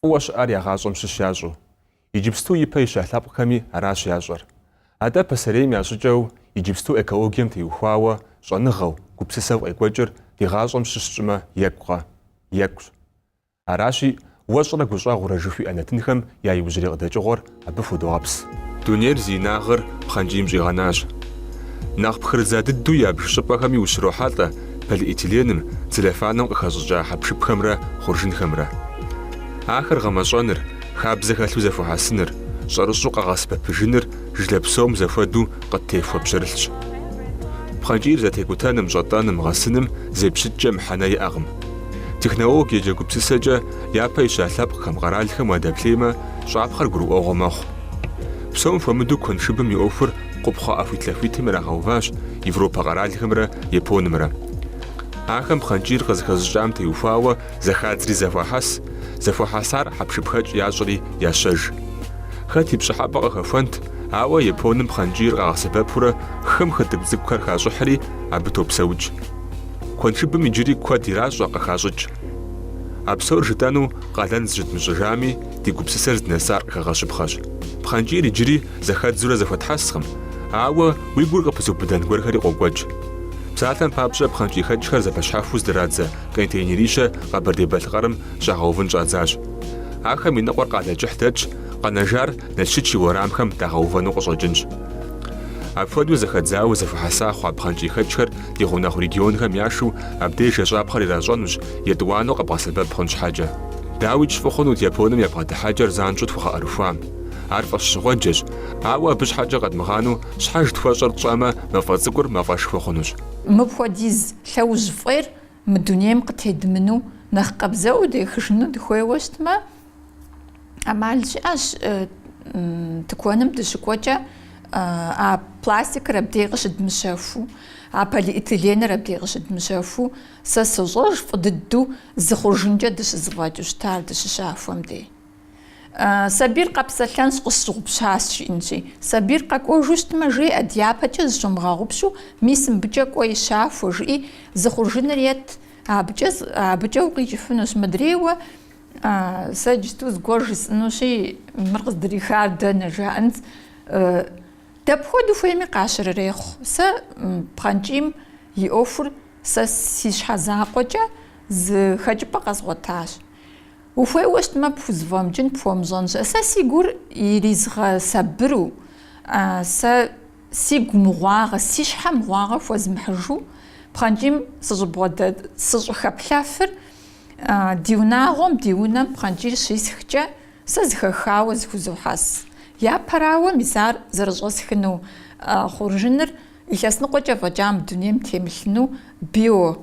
фӏыуэ щыӏар я гъащӏэм щыщ ящӏу. Иджыпсту ипэ ища лъэпкъхэми аращ ящӏэр. Атӏэ пасэрейм я щӏыкӏэу иджыпсту экологием теухуауэ щӏэныгъэу, гупсысэу къекӏуэкӏыр ди гъащӏэм щыщ тщӏымэ екӏукъэ? Екӏущ. Аращи, уэщӏрэ гущӏэгъурэ жыхуиӏэ нэтынхэм я иужьрей къыдэкӏыгъуэр абы худогъэпс. Дунейр зи инагъыр пхъэнкӏийм щӏигъэнащ. Нэхъ пхырыдза дыдэу ябж щӏыпӏэхэми ущрохьэлӏэ полиэтиленым, целлофаным къыхэщӏыкӏа хьэпшыпхэмрэ хъуржынхэмрэ. Ахэр гъэмэщӏэныр, хабзэ хэлъу зэхуэхьэсыныр, щӏэрыщӏэу къэгъэсэбэпыжыныр жылэ псом зэхуэдэу къыттехуэ пщэрылъщ. Пхъэнкӏийр зэтекӏутэным, щӏэтӏэным, гъэсыным зепщыткӏэ мыхьэнэ иӏэкъым. Технологиекӏэ, гупсысэкӏэ япэ ища лъэпкъхэм, къэралхэм уадэплъеймэ, щӏапхъэр гурыӏуэгъуэ мэхъу. Псом хуэмыдэу куэншыбым и ӏуэхур къупхъэ ӏэхуитлъэхуитым ирагъэуващ Европэ къэралхэмрэ Японымрэ. Ахэм пхъэнкӏийр къызыхэзыщӏам теухуауэ зэхадзри зэхуахьэс, зэхуэхьэсар хьэпшыпхэкӏ ящӏри ящэж. Хэт и пщӏыхьэпӏэ къыхэхуэнт, ауэ Японым пхъэнкӏийр къагъэсэбэпурэ хым хытӏыгу цӏыкӏухэр хащӏыхьри, абы топсэукӏ. Куэншыбым иджыри куэд иращӏэ, къыхащӏыкӏ. А псор жытӏэну къалэн зыщыдмыщӏыжами, ди гупсысэр здынэсар къыхэгъэщыпхъэщ. Пхъэнкӏийр иджыри зэхэдзурэ зэхуэтхьэскъым, ауэ уи гур къыпызыубыдэн гуэрхэри къокӏуэкӏ. Псалъэм папщӏэ, пхъэнкӏийхэкӏхэр зэпэщхьэхуэу здырадзэ контейнерищэ Къэбэрдей-Балъкъэрым щагъэувын щӏадзащ. Ахэм и ныкъуэр Къалэкӏыхь дэтщ, къэнэжар Налщыч и уэрамхэм дагъэувэну къыщӏэкӏынщ. Апхуэдэу зэхэдзауэ зэхуэхьэса хъуа пхъэнкӏийхэкӏхэр ди гъунэгъу регионхэм яшэу абдеж ещӏапхъэр иращӏэнущ, етӏуанэу къэбгъэсэбэп хъун щхьэкӏэ. Дауикӏ фӏы хъунут Японым я бгъэдыхьэкӏэр занщӏэу тхуэгъэӏэрыхуам. Ар фӏэщщӏыгъуэджэщ, ауэ абы щхьэкӏэ къэдмыгъанэу щхьэж тхуэщӏэр тщӏэмэ, мафӏэ цӏыкӏур мафӏэшхуэ хъунущ. Мыпхуэдиз лъэужь фӏейр мы дунейм къытедмыну, нэхъ къабзэу дехыжыну дыхуейуэ щытмэ, ӏэмал щыӏэщ э, тыкуэным дыщыкӏуэкӏэ э, а пластикыр абдей къыщыдмыщэхуу, а полиэтиленыр абдей къыщыдмыщэхуу, сэ сощӏэж фӏы дыдэу зы хъуржынкӏэ дыщызыфӏэкӏыу щытар дыщыщахуэм дей. Э, сабийр къэпсэлъэнщ, къысщыгъупщащ, жиӏэнщи. Сабийр къэкӏуэжу щытмэ, жеӏэ, дяпэкӏэ зыщомыгъэгъупщу, мис мыбыкӏэ кӏуэи щахуэ, жиӏи, зы хъуржыныр ет, абыкӏэ, абыкӏэ укъикӏыфынущ. Мыдрейуэ Сэ иджысту зыгуэр жысӏынущи, мыр къыздрихар дэнэ жаӏэнщ. Дапхуэдэу хуейми къащырырехъу. Сэ пхъэнкӏийм и ӏуэхур сэ си щхьэ закъуэкӏэ зы хэкӏыпӏэ къэзгъуэтащ. Ухуейуэ щытмэ, пхузэфӏэмыкӏын, пхуэмыщӏэн щыӏэ. Сэ си гур иризгъэсабыру, сэ си гу мыгъуагъэ, си щхьэ мыгъуагъэ хуэзмыхьыжу пхъэнкӏийм сыщӏыбгъуэдэ, сыщӏыхэплъэфыр, Ди унагъуэм, ди унэм пхъэнкӏийр щисхкӏэ, сэ зыхэхауэ зыхузохьэс. Япэрауэ, мис ар зэрыщӏэсхыну хъуржыныр илъэс ныкъуэкӏэ фӏэкӏа мы дунейм темылъыну био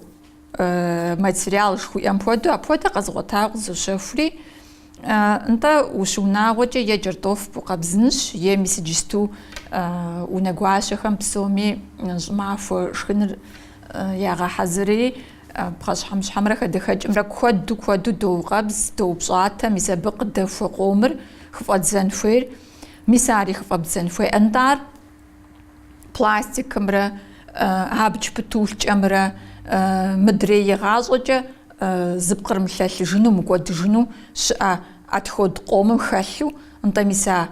материал жыхуиӏэм хуэдэу апхуэдэ къэзгъуэтауэ къызощэхури, нтӏэ ущыунагъуэкӏэ е кӏэртӏоф букъэбзынщ, е мис иджысту унэгуащэхэм псоми щӏымахуэ шхыныр ягъэхьэзыри, Пхъэщхьэмыщхьэмрэ хадэхэкӏымрэ куэду куэду доукъэбз, доупщӏатэ, мис абы къыдэхуэ къомыр хыфӏэддзэн хуейр, мис ари хыфӏэбдзэн хуей, нтӏэ ар пластикымрэ абдж птулъкӏэмрэ мыдрей игъащӏэкӏэ зыпкърымылъэлъыжыну, мыкӏуэдыжыну щыӏэ отход къомым хэлъу, нтӏэ, мис а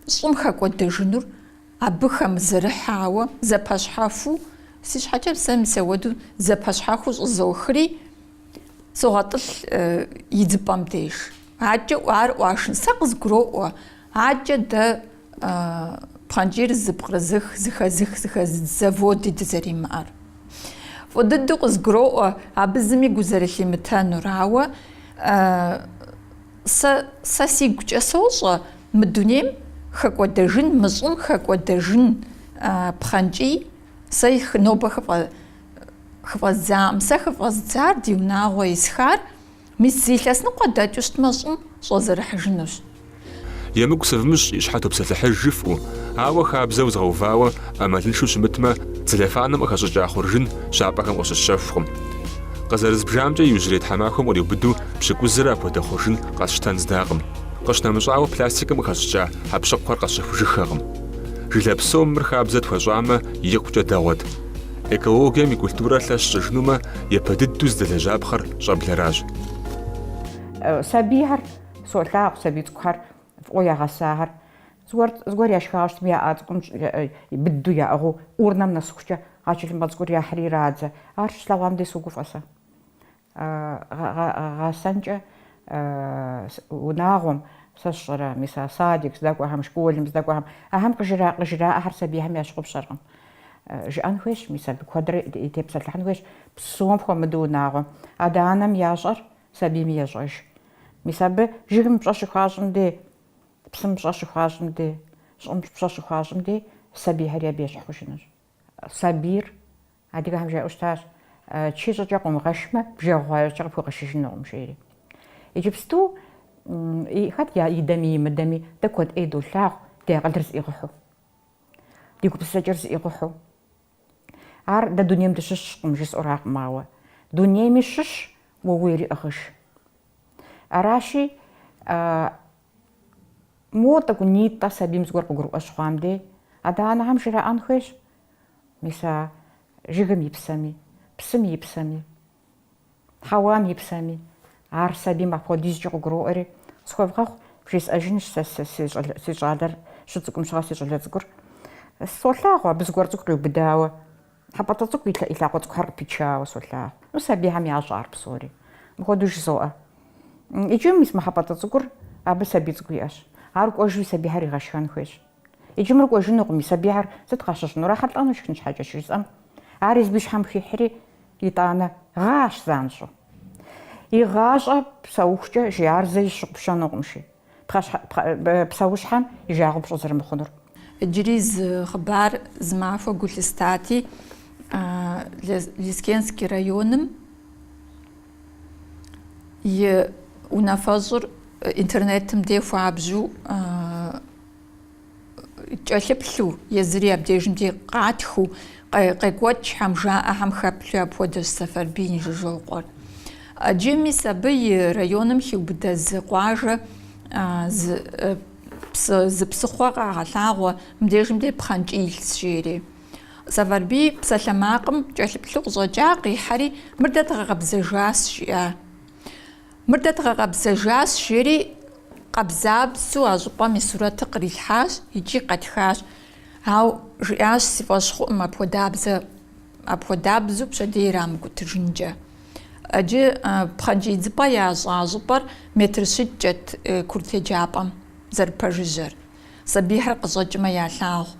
щӏым хэкӏуэдэжынур Абы хэмызэрыхьауэ зэпэщхьэхуу, си щхьэкӏэ сэ мис ауэду зэпэщхьэхуу щӏызохри, согъэтӏылъ идзыпӏэм деж. Адэкӏэ ар ӏуашын, сэ къызгуроӏуэ, адэкӏэ дэ пхъэнкӏийр зыпкърызых, зыхэзых, зыхэзыдз заводи дызэримыӏэр. Фӏы дыдэу къызгуроӏуэ абы зыми гу зэрылъимытэнур, ауэ. Сэ, сэ сигукӏэ сощӏэ, мы дунейм хэкӏуэдэжын, мы щӏым хэкӏуэдэжын пхъэнкӏий, сэ хы, нобэ хыфӏэ, хыфӏэздзаӏым. Сэ хыфӏэздзар, ди унагъуэ исхар, мис зы илъэс ныкъуэ дэкӏыу щытмэ, щӏым щӏэзэрыхьыжынущ. Емыкӏу сывмыщӏ, и щхьэ топсэлъыхьыж, жыфӏу, ауэ хабзэу згъэувауэ ӏэмалыншэу щымытмэ, целлофаным къыхэщӏыкӏа хъуржын щапӏэхэм къыщысщэхукъым. Къызэрызбжамкӏэ, иужьрей тхьэмахуэм къриубыду Пщыкӏузрэ апхуэдэ хъуржын къэсщтэн здакъым. Къыщынэмыщӏауэ, пластикым къыхэщӏыкӏа хьэкъущыкъухэр къэсщэхужыххэкъым. Жылэ псом мыр хабзэ тхуэщӏамэ, икъукӏэ дэгъуэт. Экологием и культурэр лъэщ щӏыжынумэ, япэ дыдэу зыдэлэжьапхъэр щӏэблэращ. Сабийхэр, солъагъу, сабий цӏыкӏухэр фӏыуэ ягъэсахэр. Зыгуэр, зыгуэр яшхауэ щытми, я ӏэ цӏыкӏум быдэу яӏыгъыу, урнэм нэсыхукӏэ, а тхылъымпӏэ цӏыкӏур яхьри ирадзэ. Ар щыслъэгъуам дей согуфӏэ сэ. гъэсэнкӏэ унагъуэм, сэ сщӏэрэ, мис а садик здэкӏуэхэм, школым здэкӏуэхэм, ахэм къыжраӏэхэр сабийхэм ящыгъупщэркъым. Жыӏэн хуейщ, мис абы куэдрэ тепсэлъыхьын хуейщ, псом хуэмыдэу унагъуэм. Адэ-анэм ящӏэр сабийм ещӏэж. Мис абы жыгым пщӏэ щыхуащӏым дей, псым пщӏэ щыхуащӏым дей, щӏым пщӏэ щыхуащӏым дей сабийхэри абы ещхь хъужынущ. Сабийр Адыгэхэм жаӏэу щытащ, Чы щӏыкӏэ къыумыгъэшмэ, бжэгъу хъуа иужькӏэ къыпхуэгъэшыжынукъым, жери. Иджыпсту хэт идэми имыдэми, дэ куэд ӏей долъагъу ди акъылыр зыӏигъыхьу, ди гупсысэкӏэр зыӏигъыхьу. Ар дэ дунейм дыщыщкъым жысӏэракъым, ауэ дунейми щыщ уэ ууейри ӏыгъыж. Аращи, мо тӏэкӏунитӏэ сабийм зыгуэр къыгурыӏуэ щыхъуам дей, адэ-анэхэм жраӏэн хуейщ, Мис а жыгым и псэми, псым и псэми, хьэуам и псэми, ар сабийм апхуэдизкӏэ къыгуроӏуэри, схуэвгъэгъу, бжесӏэжынщ сэ си щӏалэр, щыцӏыкӏум щыгъэ си щӏалэ цӏыкӏур. Солъагъу абы зыгуэр цӏыкӏу къиубыдауэ, хьэпӏэтӏэ цӏыкӏу и лъакъуэ цӏыкӏухэр къыпичауэ солъагъу. Ну, сабийхэм ящӏэ ар псори. Мыпхуэдэу жызоӏэ. Иджы мис мы хьэпӏэтӏэ цӏыкӏур абы сабий цӏыкӏу иӏэщ. Ар кӏуэжри сабийхэр игъэшхэн хуейщ. Иджы мыр кӏуэжынукъым, и сабийхэр сыт къащыщӏынур, ахэр лӏэнущ шхын щхьэкӏэ, щыжысӏэм, ар езыбы и щхьэм хихьри, итӏанэ, гъащ занщӏэу. Игъащӏэ псэухукӏэ иджы ар зэи щыгъупщэнукъымщи, псэущхьэм и жагъуэ пщӏы зэрымыхъунур. Иджыри зы хъыбар зы махуэ гу лъыстати, Лескенский районым и унафэщӏыр интернетым де хуабжьу, кӏэлъыплъу, езыри абдежым де къатхыу, къекӏуэкӏхэм, жаӏэхэм хэплъу апхуэдэщ Сэфарбий Инжыжокъуэр. Иджы мис абы и районым хиубыдэ зы къуажэ зы псыхъуэ къагъэлъагъуэ, мыбдежым де пхъэнкӏий илъщ жери. Сэфарбий псалъэмакъым кӏэлъыплъу къыщӏэкӏа, къихьэри, Мыр дэ дгъэкъэбзэжащ, жиӏа. Мыр дэ дгъэкъэбзэжащ, жери къабзабзэу а щӏыпӏэм и сурэтыр кърилъхьащ икӏи къэтхащ. Ауэ жиӏащ, си фӏэщ хъуӏым апхуэдабзэ, апхуэдабзэу пщэдей ирамыкӏутэжынкӏэ. Иджы пхъэнкӏий идзыпӏэ ящӏа щӏыпӏэр метр щитӏкӏэт курыт еджапӏэм зэрыпэжыжьэр. Сабийхэр къыщӏэкӏмэ ялъагъу.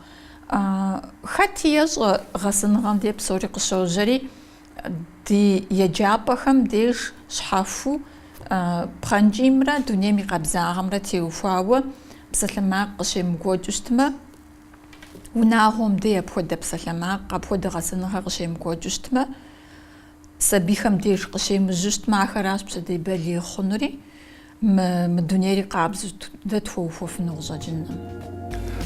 Хэти ещӏэ гъэсэныгъэм де псори къыщожьэри, Ди еджапӏэхэм деж щхьэхуу пхъэнкӏиймрэ дунейм и къабзагъэмрэ теухуауэ псалъэмакъ къыщемыкӏуэкӏыу щытмэ, унагъуэм дей апхуэдэ псалъэмакъ, апхуэдэ гъэсэныгъэ къыщемыкӏуэкӏыу щытмэ, сабийхэм деж къыщемыжьу щытмэ, ахэращ пщэдей балигъ хъунури. Мы, мы дунейри къабзэу дэ тхуэухуэфыну къыщӏэкӏынкъым.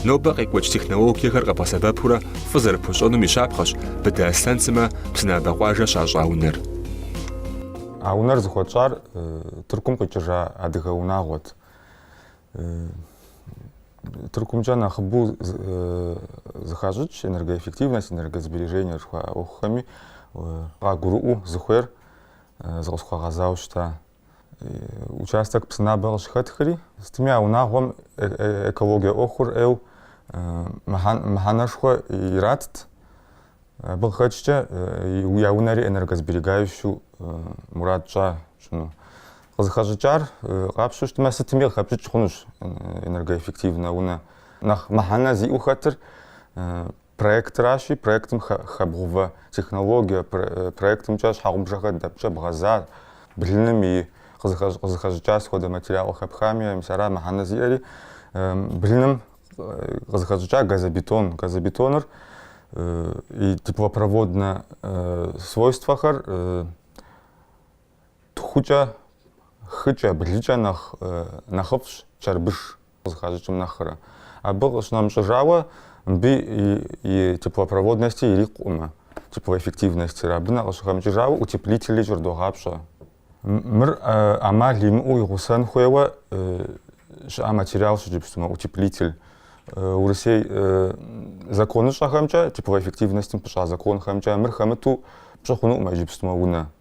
Нобэ къекӏуэкӏ технологиехэр къэбгъэсэбэпурэ фӏы зэрыпхуэщӏэнум и щапхъэщ Быдэ Аслъэн сымэ Псынабэ къуажэ щащӏа унэр. А унэр зыхуэтщӏар Тыркум къикӏыжа адыгэ унагъуэт. Тыркумкӏэ нэхъыбэу зыхащӏыкӏ энергоэффективность, энергосбережение жыхуаӏэ ӏуэхухэми къагурыӏуэу зыхуейр зыкъысхуагъэзауэ щыта. участок Псынабэ къыщыхэтхри, сытми а унагъуэм экологие ӏуэхур ӏейу мыхьэнэшхуэ иратт. Абы къыхэкӏкӏэ я унэри энергосберегающэу мурад тщӏа тщӏыну. Къызыхэщӏыкӏар къапщтэу щытмэ, сытми къыхэпщӏыкӏ хъунущ энергоэффективнэ унэ. Нэхъ мыхьэнэ зиӏэу хэтыр Проектращи, проектым хэбгъувэ технологие проектымкӏэ щхьэгъубжэхэр дэпкӏэ бгъэза, блыным и къызыхэщӏыкӏа сыт хуэдэ материал къыхэпхами, мис ара мыхьэнэ зиӏэри, блыным къызыхэщӏыкӏа газобетон. Газобетоныр и теплопроводнэ свойствэхэр тхукӏэ, хыкӏэ, блыкӏэ нэхъыфӏщ чэрбыш. къызыхащӏыкӏым нэхърэ. Абы къыщынэмыщӏыжауэ, мыбы и теплопроводности ирикъукъымэ, теплоэффективностыр. Абы нэ къыщыхэмыкӏыжауэ утеплители кӏэрыдогъапщӏэ. Мыр ӏэмал имыӏэу игъусэн хуейуэ щыӏа материалщ иджыпстумэ утеплитель. Урысей законыщӏэхэмкӏэ, теплоэффективностым пыщӏа законхэмкӏэ мыр хэмыту пщӏы хъунукъымэ иджыпстумэ унэ.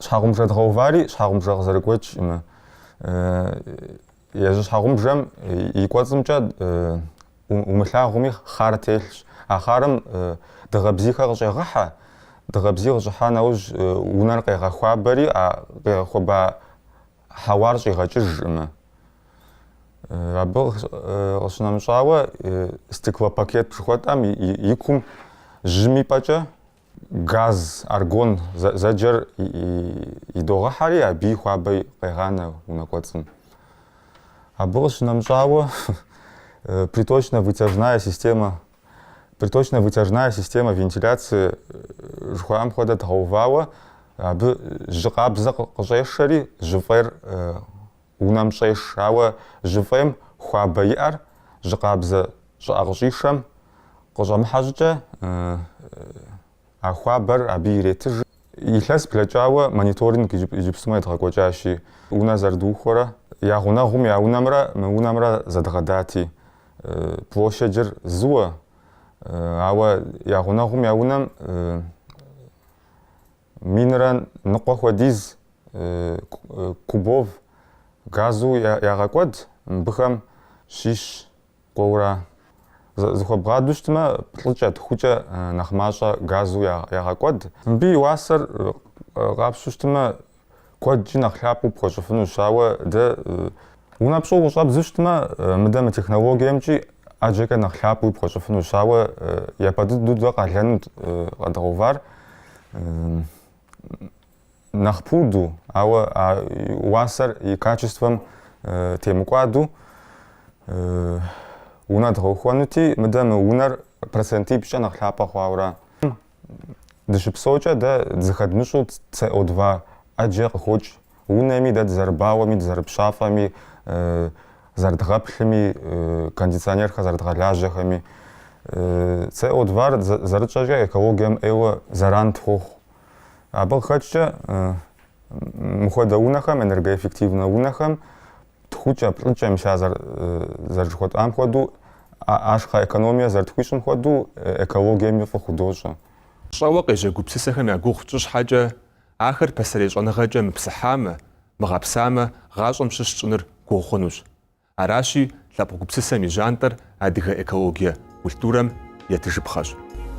Щхьэгъубжэ дгъэувари щхьэгъубжэ къызэрыгуэкӏкъымэ, езы щхьэгъубжэм и кӏуэцӏымкӏэ умылъагъуми хъар телъщ. А хъарым дыгъэбзийхэр къыщӏегъэхьэ, дыгъэбзий къыщӏыхьа нэужь унэр къегъэхуабэри, а къегъэхуэба хьэуар щӏигъэкӏыжкъымэ. Абы къыщынэмыщӏауэ стеклопакет жыхуэтӏэм и кум жьым и пӏэкӏэ Газ, аргон зэджэр идогъэхьэри, абы и хуабэ къегъанэ унэ кӏуэцӏым. Абы къыщынэмыщӏауэ приточно-вытяжная система, приточно-вытяжная система вентиляции жыхуаӏэм хуэдэ дгъэувауэ, абы жьы къабзэ къыщӏешэри, жьы фӏейр Унэм щӏеш, ауэ жьы фӏейм хуабэ иӏэр жьы къабзэ щӏыӏэ къыщӏишэм къыщӏэмыхьэ щӏыкӏэ, а хуабэр абы иретыж. Илъэс блэкӏауэ мониторинг иджыпстумэ едгъэкӏуэкӏащи, унэ зэрыдухуэрэ я гъунэгъум я унэмрэ мы унэмрэ зэдгъэдати, площадыр зыуэ, ауэ я гъунэгъум я унэм Минрэ ныкъуэ хуэдиз кубов газу ягъэкӏуэд, мыбыхэм щищ кӏуэу ара. Зыхуэбгъаду щытмэ, плӏыкӏэ, тхукӏэ нэхъ мащӏэ газу ягъэкӏуэд. Мыбы и уасэр къапщу щытмэ, Куэдкӏи нэхъ лъапӏэу пхуэщӏыфынущ, ауэ дэ унэ пщӏыуэ щӏэбдзу щытмэ, мыдэ мы технологиемкӏи ӏэджэкӏэ нэхъ лъапӏэуи пхуэщӏыфынущ, ауэ япэ дыдэу дэ къалэну къэдгъэувар нэхъ пуду, ауэ уасэр и качествэм темыкӏуаду унэ дгъэухуэнути, мыдэ мы унэр процентипщӏкӏэ нэхъ лъапӏэ хъуауэ ара. Дыщыпсэукӏэ дэ зыхэдмыщӏу ЦО2 ӏэджэ къыхокӏ. Унэми дэ дызэрыбауэми, дызэрыпщафӏэми, зэрыдгъэплъыми, кондиционерхэр зэрыдгъэлажьэхэми, ЦО2-р зэрытщӏэкӏэ экологием ӏейуэ зэран тхуохъу. Абы къыхэкӏкӏэ мыхуэдэ унэхэм, энергоэффективнэ унэхэм тхукӏэ, плӏыкӏэ мис а зэрыжыхуэтӏам хуэдэу, ашхъэ экономие зэрытхуищӏым хуэдэу экологиеми фӏы худощӏэ. Щӏэуэ къежьэ гупсысэхэм я гугъу тщӏы щхьэкӏэ, ахэр пасэрей щӏэныгъэкӏэ мыпсыхьамэ, мыгъэпсамэ, гъащӏэм щыщ тщӏыныр гугъу хъунущ. Аращи, лъэпкъ гупсысэм и жьантӏэр адыгэ экологие культурэм етыжыпхъэщ.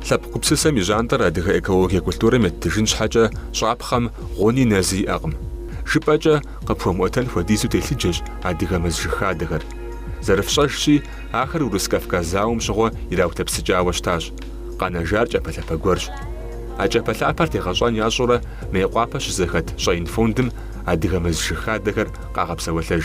Лъэпкъ гупсысэм и жьантӏэр адыгэ экологие культурэм еттыжын щхьэкӏэ щӏапхъэм гъуни нэзи иӏэкъым. Жыпӏэкӏэ къыпхуэмыӏуэтэн хуэдизу телъыджэщ адыгэ мэз жыг хадэхэр. Зэрыфщӏэжщи, ахэр Урыс-Кавказ зауэм щыгъуэ ираутэпсыкӏауэ щытащ. Къэнэжар кӏэпэлъапэ гуэрщ. А кӏэпэлъапэр тегъэщӏэн ящӏурэ Мейкъуапэ щызэхэт Щӏэин фондым адыгэ мэз жыг хадэхэр къагъэпсэуэлъэж.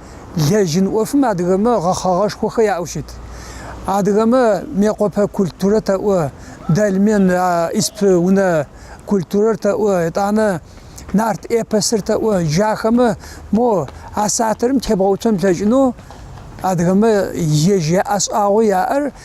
лэжьын ӏуэфым адыгэмэ гъэхъэгъэшхуэхэ яӏэу щыт. Адыгэмэ Мекъуэпэ культурэ тэӏуэ, дольмен исп унэ культурэр тэӏуэ, етӏанэ нарт эпосыр тэӏуэ. Джахэмэ мо а сатырым тебгъэуцон плъэкӏыну адыгэмэ ежь яӏэшӏагъэу яӏэр.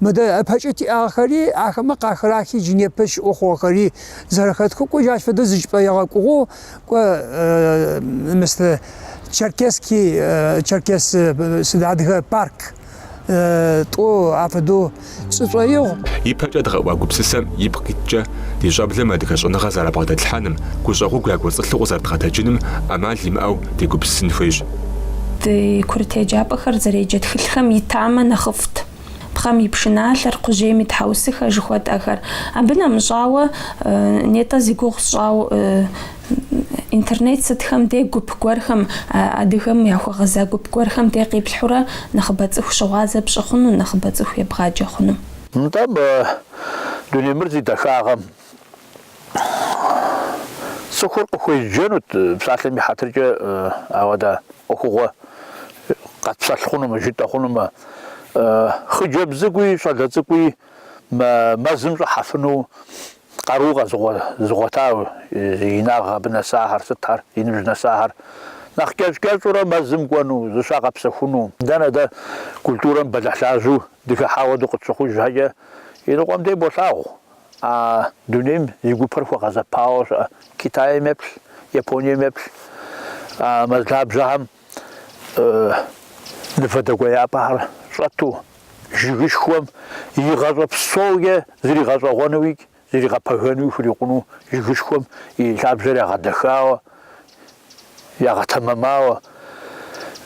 Мыдэ ыпэкӏэ тиӏагъэхэри, ахэмэ къахырахи джы непэ щыӏэу хъугъэхэри зэрэхэтхэу кӏуэ джащ фэдэу зы чӏыпӏэ егъэкӏугъэу кӏуэ Мыс Черкесский, Черкес сыд, Адыгэ парк тӏу афэдэу сшӏоигъу. Ипэкӏэ дгъэӏуа гупсысэм ипкъ къиткӏэ, ди щӏэблэм адыгэ щӏэныгъэ зэрабгъэдэтлъхьэным, гущӏэгъугу якӏуэцӏылъу къызэрыдгъэтэджыным ӏэмал имыӏэу дегупсысын хуейщ. Ди курыт еджапӏэхэр зэреджэ тхылъхэм итамэ нэхъыфӏт. Пхъэм и пшыналъэр, кхъужьейм и тхьэусыхэр жыхуэтӏэхэр. Абы нэмыщӏауэ, нетӏэ зи гугъу сщӏауэ, Интернет сытхэм де гуп гуэрхэм, адыгэм яхуэгъэза гуп гуэрхэм де къиплъхьурэ нэхъыбэ цӏыху щыгъуазэ пщӏы хъуну, нэхъыбэ цӏыху ебгъаджэ хъуну. Нтӏэ, мы дуней мыр зи дахагъэм, Цӏыхур къыхуеджэнут псалъэм и хьэтыркӏэ, ауэ дэ ӏуэхугъуэ къэтпсэлъ хъунумэ, жытӏэ хъунумэ. Хъыджэбз цӏыкӏуи щӏалэ цӏыкӏуи мэзым щӏыхьэфыну къару къэзыгъуэтауэ инагъ абы нэсахэр, сытхэр, и ныбжь нэсахэр. Нэхъ кӏэщӏ-кӏэщӏурэ мэзым кӏуэну, зыщагъэпсэхуну. Дэнэ дэ культурэм бэлыхьлажьэу дыхыхьауэ дыкъытщыхъуж щхьэкӏэ, иныкъуэм дей болъагъу, А дунейм и гупэр хуэгъэзэпауэ щыӏэ Китайм еплъ, Японием еплъ а мэз лъабжьэхэм мывэ дэкӏуеяпӏэхэр щӏэту, жыгышхуэм и гъащӏэ псоукӏэ зригъэщӏэгъуэнуикӏ зригъэпэгэну хурикъуну жыгышхуэм и лъабжьэр ягъэдэхауэ, ягъэтэмэмауэ.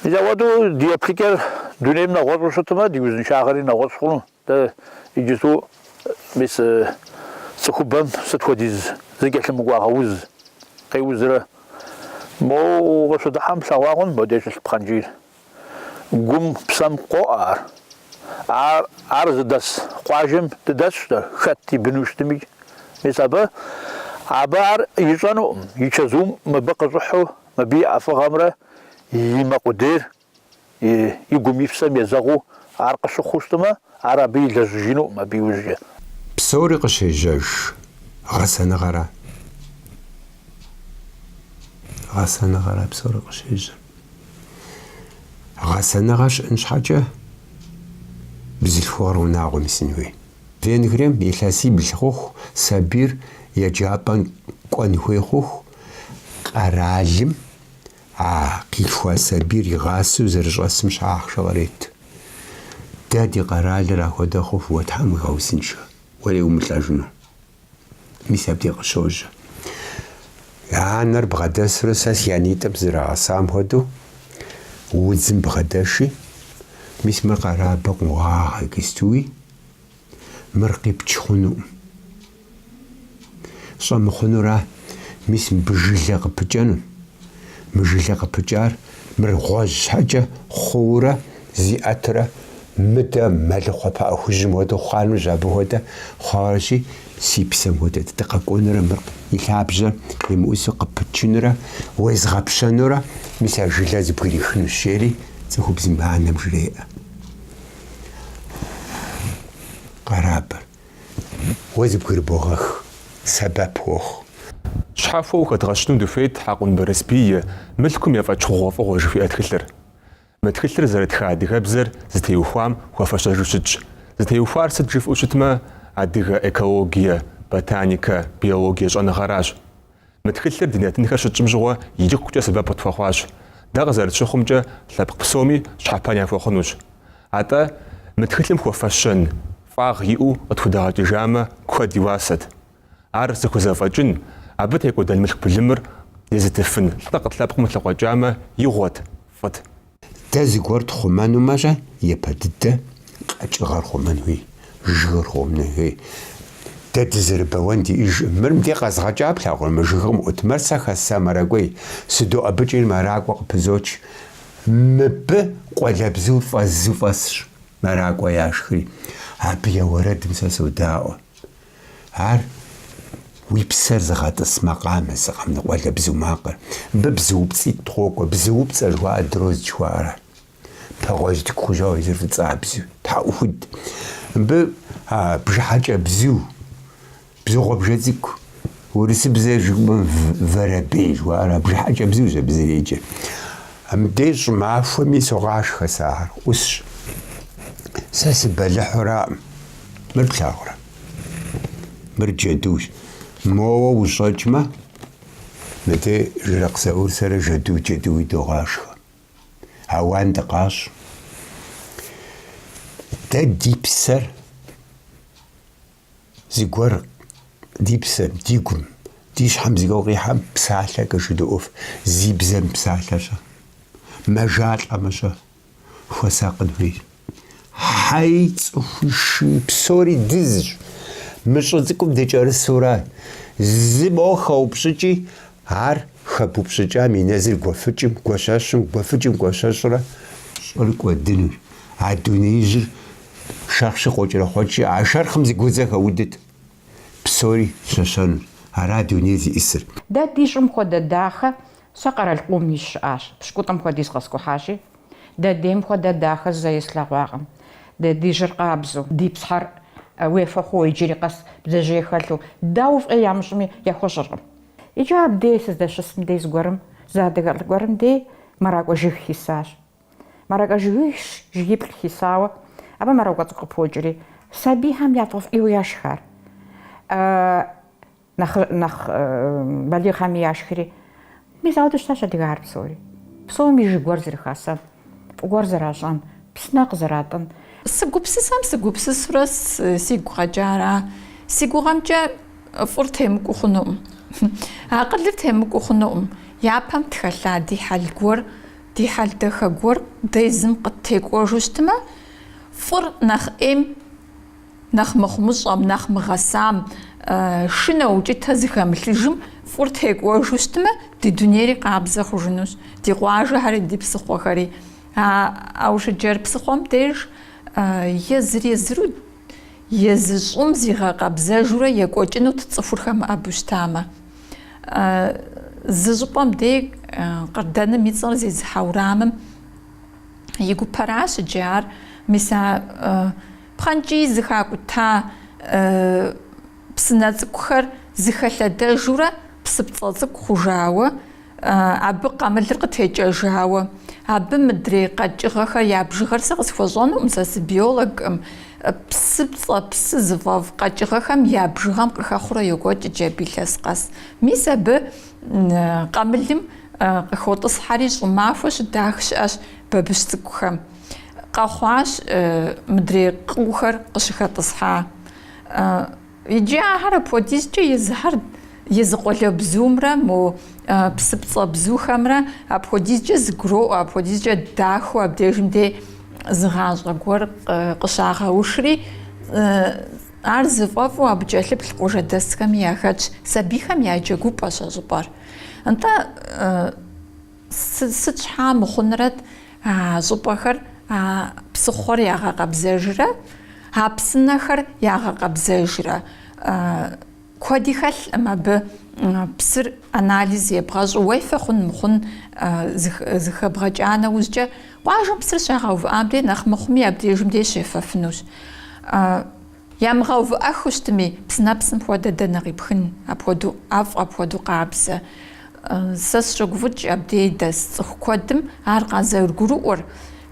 Мис ахуэдэу ди еплъыкӏэр дунейм нэгъуэщӏу щытмэ, ди узыншагъэри нэгъуэщӏ хъуну. Дэ иджыпсту мис цӏыхубэм сыт хуэдиз зэкӏэлъымыкӏуагъэ уз къеузрэ? Моуэ укъыщыдыхьэм плъэгъуагъэн модеж щылъ пхъэнкӏийр. Гум, псэм къоӏэ ар. Ар ар зыдэс къуажэм дыдэсщ дэ, хэт и быну щытми. Мис абы абы ар ищӏэнукъым, и чэзум мыбы къыщӏыхьу, мыбы и ӏэфӏыгъэмрэ и мэ къудейр и гум и псэм езэгъыу ар къыщыхъуу щытмэ, ар абы илэжьыжынукъым абы иужькӏэ. Псори къыщежьэж гъэсэныгъэра. Гъэсэныгъэра псори къыщежьэр. Гъэсэныгъэ щыӏын щхьэкӏэ бзылъхугъэр унагъуэм исын хуей. Венгрием илъэсибл хъуху сабийр еджапӏэм кӏуэн хуей хъуху къэралым А къилъхуа сабийр игъасэу зэрыщӏэсым щхьэ ахъшэ кърет. Дэ ди къэралыр ахуэдэ хъуху уэ Тхьэм уигъэузыншэ, уэри умылӏэжыну. Мис абди къыщожьэ. Анэр бгъэдэсурэ сэ си анитӏым сызэрагъэсам хуэдэу удзым бгъэдэши, мис мыр къэрабэ къогъагъэ, кыстуи, Мыр къипч хъунукъым. Щӏэмыхъунура, мис мыбы жылэ къыпыкӏэну. Мы жылэ къыпыкӏар мыр гъуэжь щхьэкӏэ хъуурэ зиӏэтурэ мыдэ мэлыхъуэ пыӏэ хужьым хуэдэу хъунущ, абы хуэдэ хъуащи, си псэм хуэдэ, дыкъэкӏуэнурэ мыр и лъабжьэр къимыӏусу къыпычынурэ уезгъэпщэнурэ, мис а жылэр зэбгрихынущ, жери цӏыхубзым анэм жреӏэ. къэрабыр. Уэ зыбгырыбогъэх, сэбэп уохъу. Щхьэхуэу хэдгъэщыну дыхуейт Хьэкъун Барэсбий и мылъкум ефӏэкӏ хъугъуэфӏыгъуэ жыхуиӏэ тхылъыр. Мы тхылъыр зэрытха адыгэбзэр зытеухуам хуэфэщэжу щытщ. Зытеухуар сыт жыфӏэу щытмэ, адыгэ экологие, ботаникэ, биологие щӏэныгъэращ. Мы тхылъыр ди нэтынхэр щытщӏым щыгъуэ икӏыхукӏэ сэбэп къытхуэхъуащ. Дэ къызэрытщыхъумкӏэ, лъэпкъ псоми щхьэпэн яхуэхъунущ. Атӏэ, мы тхылъым хуэфэщэн, фӏагъ иӏэу къытхудэгъэкӏыжамэ, куэд и уасэт. Ар зыхузэфӏэкӏын, абы текӏуэдэн мылъку былымыр езытыфын лӏы дэ къыт- лъэпкъым тлъыкъуэкӏамэ, игъуэт, фӏыт. Дэ зыгуэр тхъумэнумэ-щэ япэ дыдэ къэкӏыгъэр хъумэн хуей, жыгыр хъумэн хуей. Дэ дызэрыбэуэн ди, иджы мыр мыдей къэзгъэкӏа плъагъур, мы жыгым къыӏут, мыр сэ хэсса мэракӏуей, сыдоӏэбыкӏри мэракӏуэ къыпызоч. Мыбы къуалэбзур фӏэзу фӏэсщ, мэракӏуэ яшхри, абы я уэрэдым сэ содаӏуэ. Ар уи псэр зыгъэтӏыс макъамэ, зы къэмынэу къуалэбзу макъыр. Мыбы бзуупцӏитӏ къытхуокӏуэ, бзуупцӏэ жыхуаӏэр дрозд жыхуаӏэра. Пэгъуэжь тӏэкӏу хъужауэ езыр фӏыцӏабзэу, тхьэӏухуд. Мыбы а бжыхьэкӏэ бзу, бзу гъуабжэ цӏыкӏу. Урысыбзэ жыпӏэмэ воробей жыхуаӏэра бжыхьэкӏэ бзур зэ- зэреджэ. Мыбдеж щӏымахуэми согъашхэ сэ ахэр, ӏусщ. Сэ сыбэлыхьураӏым. Мыр плъагъурэ? Мыр джэдущ. Моуэ ущӏэкӏмэ, мыдэ Жыракъ Заур сэрэ жэду джэдуи догъашхэ. Ауан дыкъащӏ. Дэ ди псэр зыгуэр ди псэр, ди гум, ди щхьэм зыгуэр къихьэм псалъэкӏэ жыдоӏэф. Зи бзэ мыпсалъэр-щэ? Мэжалӏэмэ-щэ? хуэсакъын хуейщ. Хьэи, цӏыхуи шыи псори дызщ. Мы щӏы цӏыкӏум дыкӏэрысу ара, зы моуэ хэупщӏыкӏи, ар хэбупщӏыкӏам и нэзыр гуэфыкӏым, гуэщэщым, гуэфыкӏым гуэщэщурэ щӏыр кӏуэдынущ. А дунеижьыр шэрхъщи къокӏэрэхъуэкӏи, а шэрхъым зы гудзэ хэудыт, псори щэщэнущ. Ара дуней зиӏысыр. Дэ ди щӏым хуэдэ дахэ Сэ къэрал къом сыщыӏащ, пщыкӏутӏым хуэдиз къэскӏухьащи, дэ дейм хуэдэ дахэ зэи слъэгъуакъым. Дэ ди жьыр къабзэу, ди псыхэр уефэ хъууэ иджыри къэс бдзэжьей хэлъу, дауэ фӏей ямыщӏми, яхуэщӏыркъым. Иджы абдей сыздэщысым дей зыгуэрым зы адыгэ лӏы гуэрым дей мэракӏуэ жыг хисащ. Мэракӏуэ жыгищ жыгиплӏ хисауэ, абы мэракӏуэ цӏыкӏу къыпокӏэри, сабийхэм яфӏэфӏийуэ яшхар. Нэхъ нэхъ балигъхэми яшхри, мис ауэдэу щытащ адыгагъэр псори. Псоми жыг гуэр зэрыхасэн, фӏы гуэр зэращӏэн, псынэ къызэратӏын. Сыгупсысэм сыгупсысурэ сигу къэкӏа ара? Си гугъэмкӏэ фӏыр темыкӏуу хъунукъым, акъылыр темыкӏуу хъунукъым. Япэм тхэлъа ди хьэл гуэр, ди хьэл дахэ гуэр дэ езым къыттекӏуэжу щытмэ, фӏыр нэхъ ӏейм. Нэхъ мыхъумыщӏэм, нэхъ мыгъэсам, шынэ укӏытэ зыхэмылъыжым фӏыр текӏуэжу щытмэ, ди дунейри къабзэ хъужынущ, ди къуажэхэри, ди псыхъуэхэри. Аушыджэр псыхъуэм деж езыр-езыру, езы щӏым зигъэкъэбзэжурэ екӏуэкӏынут цӏыхур хэмыӏэбу щытамэ. Зы щӏыпӏэм дей Къардэным и цӏэр зезыхьэ урамым и гупэращ иджы ар, мис а Пхъэнкӏий зыхакӏута псынэ цӏыкӏухэр зыхэлъэдэжурэ псыпцӏэ цӏыкӏу хъужауэ, абы къамылыр къытекӏэжауэ, абы мыдрей къэкӏыгъэхэр я бжыгъэр сэ къысхуэщӏэнукъым, сэ сыбиологкъым, псыпцӏэ, псы зыфӏэфӏ къэкӏыгъэхэм я бжыгъэм къыхэхъурэ йокӏуэкӏ иджы абы илъэс къэс. Мис абы къамылым къыхотӏысхьэри щӏымахуэ щыдах щыӏэщ бабыщ цӏыкӏухэм. къэхъуащ мыдрей къыухэр къыщыхэтӏысхьа. Иджы ахэр апхуэдизкӏэ езыхэр езы къуалэбзумрэ мо псыпцӏэ бзухэмрэ апхуэдизкӏэ зыгуроӏуэ, апхуэдизкӏэ дахэу абдежым дей зы гъащӏэ гуэр къыщагъэушри, ар зыфӏэфӏу абы кӏэлъыплъ къуажэдэсхэми яхэтщ, сабийхэм я джэгупӏэщ а щӏыпӏэр. Нтӏэ, Сыт щхьа мыхъунрэт а щӏыпӏэхэр а псыхъуэр ягъэкъэбзэжрэ а псынэхэр ягъэкъэбзэжрэ? Куэди хэлъкъым абы псыр анализ ебгъэщӏу уефэ хъун мыхъун зыхэбгъэкӏа нэужькӏэ, къуажэм псыр щагъэувыӏам дей нэхъ мыхъуми абдежым дей щефэфынущ. Ямыгъэувыӏэххэу щытми, псынэпсым хуэдэ дэнэ къипхын апхуэдэу ӏэфӏ, апхуэдэу къабзэ? Сэ сыщогуфӏыкӏ абдей дэс цӏыху куэдым ар къазэрыгурыӏуэр.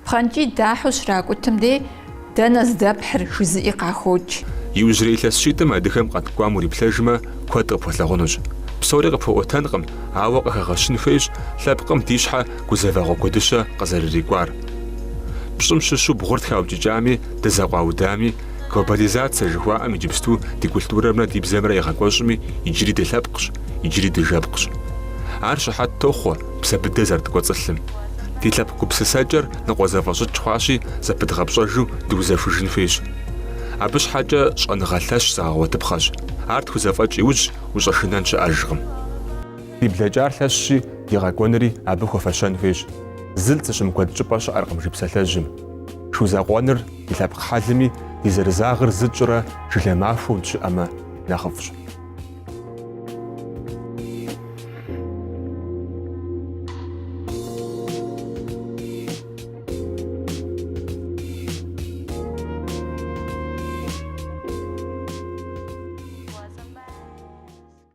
Пхъэнкӏий дахьэу щракӏутым дей, Дэнэ здэпхьыр? жызыӏи къахокӏ. Иужьрей илъэс щитӏым адыгэм къэткӏуам уриплъэжмэ, куэд къыпхуэлъагъунущ. Псори къыпхуэӏуэтэнкъым, ауэ къыхэгъэщын хуейщ лъэпкъым ди щхьэ гузэвэгъуэ куэдыщэ къызэрырикӏуар. Пщӏым щыщу бгъур тхаукӏыкӏами, дызэкъуаудами, глобализацэ жыхуаӏэм иджыпсту ди культурэмрэ ди бзэмрэ егъэкӏуэщӏми, иджыри дылъэпкъщ, иджыри дыжэпкъщ. Ар щыхьэт тохъуэ псэ быдэ зэрыткӏуэцӏылъым. Ди лъэпкъ гупсысэкӏэр ныкъуэзэфӏэщӏыкӏ хъуащи, зэпыдгъэпщӏэжу дыузэхужын хуейщ. Абы щхьэкӏэ щӏэныгъэ лъэщ зэгъэгъуэтыпхъэщ, ар тхузэфӏэкӏ иужь ущӏэшынэн щыӏэжкъым. Ди блэкӏар лъэщщи, ди къэкӏуэнри абы хуэфэщэн хуейщ. Зылӏ зыщымыкуэд щӏыпӏэ щыӏэркъым жи псалъэжьым. Шу закъуэныр ди лъэпкъ хьэлми, ди зэрызагъыр зы тщӏырэ жылэ махуэу дыщыӏэмэ нэхъыфӏщ.